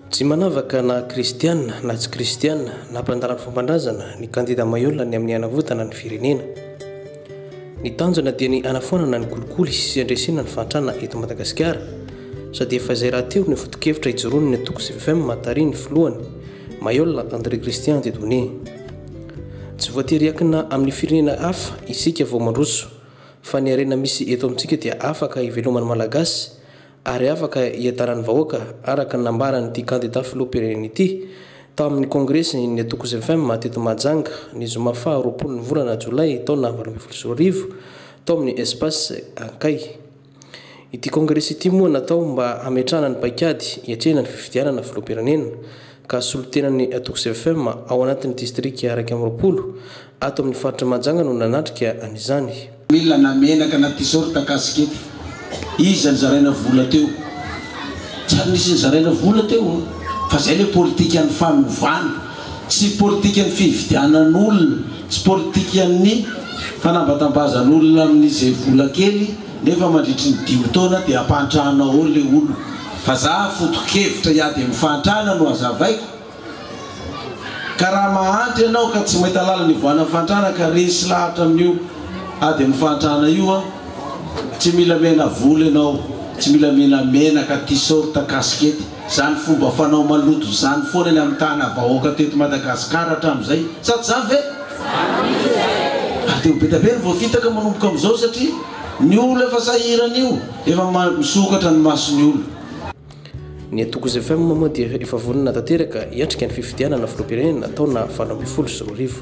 Tsy manavaka na kristiana na tsy kristiana na mpandala ny fomban-drazana ny kandida Maiola ny amin'ny hanavotana ny firenena. Ny tanjona dia ny hanafoanana ny kolikoly sy handresena ny fahantrana eto Madagasikara sady efa izay rahateo no foto-kevitra ijoroan'ny antoko CVFM tarihin'ny filohany, Maiola André Christian Dieudonné. Tsy voatery hiankina amin'ny firenena hafa isika vao mandroso fa ny harena misy eto amintsika dia afaka hiveloman'ny Malagasy ary afaka hiadanan'ny vahoaka araka ny nambaran'ity kandida filoham-pirenena ity tao amin'ny kongresin'ny Atokos FM teto Mahajanga ny zoma faha roapolon'ny volana jolay taona valo ambin'ny folo sy roa arivo tao amin'ny Espace Ankay. Ity kongresy ity moa natao mba hametrahana ny paikady hiatrehana ny fifidianana filoham-pirenena ka solontenan'ny Tokz FM ao anatin'ny distrika iraika amby roapolo ato amin'ny faritra Mahajanga no nanatrika an'izany. Mila na menaka na tisorta kasikety. Iza nizaraina vola teo? Tsy ary nisy nizaraina vola teo an! Fa zay le politikan'ny fanovana. Tsy politikan'ny fividianan'olona, tsy politikan'ny fanambatambazan'olona amin'izay vola kely nefa mandritry ny dimy taona dia ampantrahana ao le olona. Vazaha foto-kevitra hiady amin'ny fahantrana no hazavaiko ka raha mahantra ianao ka tsy mahita lalana hivoahanan'ny fahantrana ka resy lahatra amin'io ady amin'ny fahantrana io aho, tsy mila miaina volo ianao, tsy mila mila menaka, tisaorta, kasikety, izany fomba fanao maloto izany foana ny amin'ny tana vahoaka teto Madagasikara hatramin'izay, sa tsy izany ve? Ary dia ho be dia be ny voafitaka manomboka amin'izao satria ny olona efa sahirana io. Efa misokatra ny mason'ny olona. Ny antoko Zfm moa dia efa vonona tanteraka hiatrika ny fifidianana filoham-pirenena taona valo ambin'ny folo sy roa arivo.